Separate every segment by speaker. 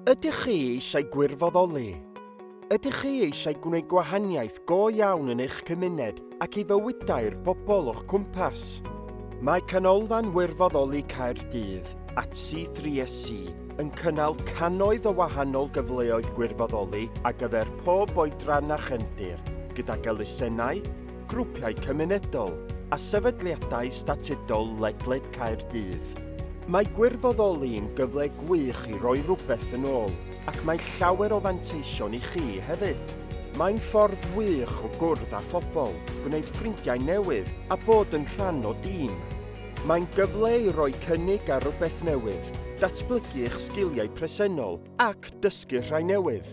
Speaker 1: Ydych chi eisiau gwirfoddoli? Ydych chi eisiau gwneud gwahaniaeth go iawn yn eich cymuned ac i fywydau'r bobl o'ch cwmpas? Mae Canolfan Wirfoddoli Caerdydd a C3SC yn cynnal cannoedd o wahanol gyfleoedd gwirfoddoli ar gyfer pob oedran a chefndir, gydag elusennau, grwpiau cymunedol a sefydliadau statudol ledled Caerdydd. Mae gwirfoddoli'n gyfle gwych i roi rhywbeth yn ôl ac mae llawer o fanteision i chi hefyd. Mae'n ffordd wych o gwrdd â phobl, gwneud ffrindiau newydd a bod yn rhan o dîm. Mae'n gyfle i roi cynnig ar rywbeth newydd, datblygu eich sgiliau presennol ac dysgu rhai newydd.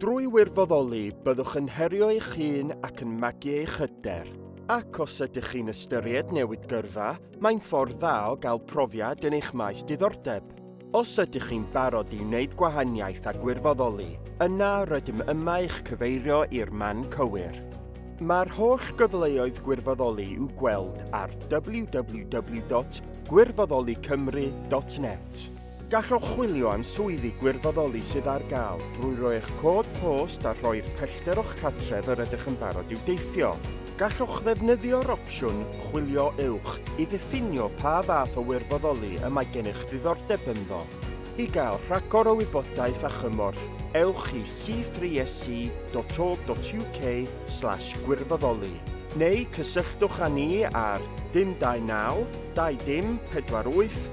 Speaker 1: Drwy wirfoddoli, byddwch yn herio eich hun ac yn magu eich hyder. Ac os ydych chi'n ystyried newid gyrfa, mae'n ffordd dda o gael profiad yn eich maes diddordeb. Os ydych chi'n barod i wneud gwahaniaeth a gwirfoddoli, yna rydym yma i'ch cyfeirio i'r man cywir. Mae'r holl gyfleoedd gwirfoddoli i'w gweld ar www.gwirfoddolicymru.net. Gallwch chwilio am swyddi gwirfoddoli sydd ar gael drwy roi eich cod post a rhoi'r pellter o'ch cartref yr ydych yn barod i'w deithio. Gallwch ddefnyddio'r opsiwn 'Chwilio Uwch' i ddiffinio pa fath o wirfoddoli y mae gennych ddiddordeb ynddo. I gael rhagor o wybodaeth a chymorth, ewch i c3se.org.uk slash gwirfoddoli neu cysylltwch â ni ar 029 20 48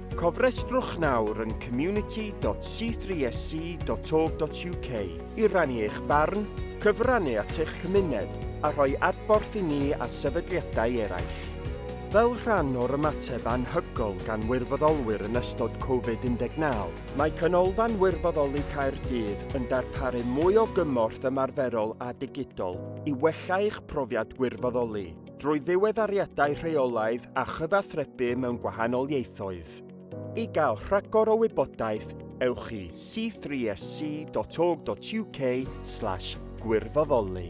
Speaker 1: Cofrestrwch nawr yn community.c3sc.org.uk i rannu eich barn, cyfrannu at eich cymuned a rhoi adborth i ni a sefydliadau eraill. Fel rhan o'r ymateb anhygoel gan wirfoddolwyr yn ystod Covid-19, mae Canolfan Wirfoddoli Caerdydd yn darparu mwy o gymorth ymarferol a digidol i wella eich profiad gwirfoddoli. drwy ddiweddariadau rheolaidd a chyfathrebu mewn gwahanol ieithoedd. I gael rhagor o wybodaeth, ewch i c3sc.org.uk slash gwirfoddoli.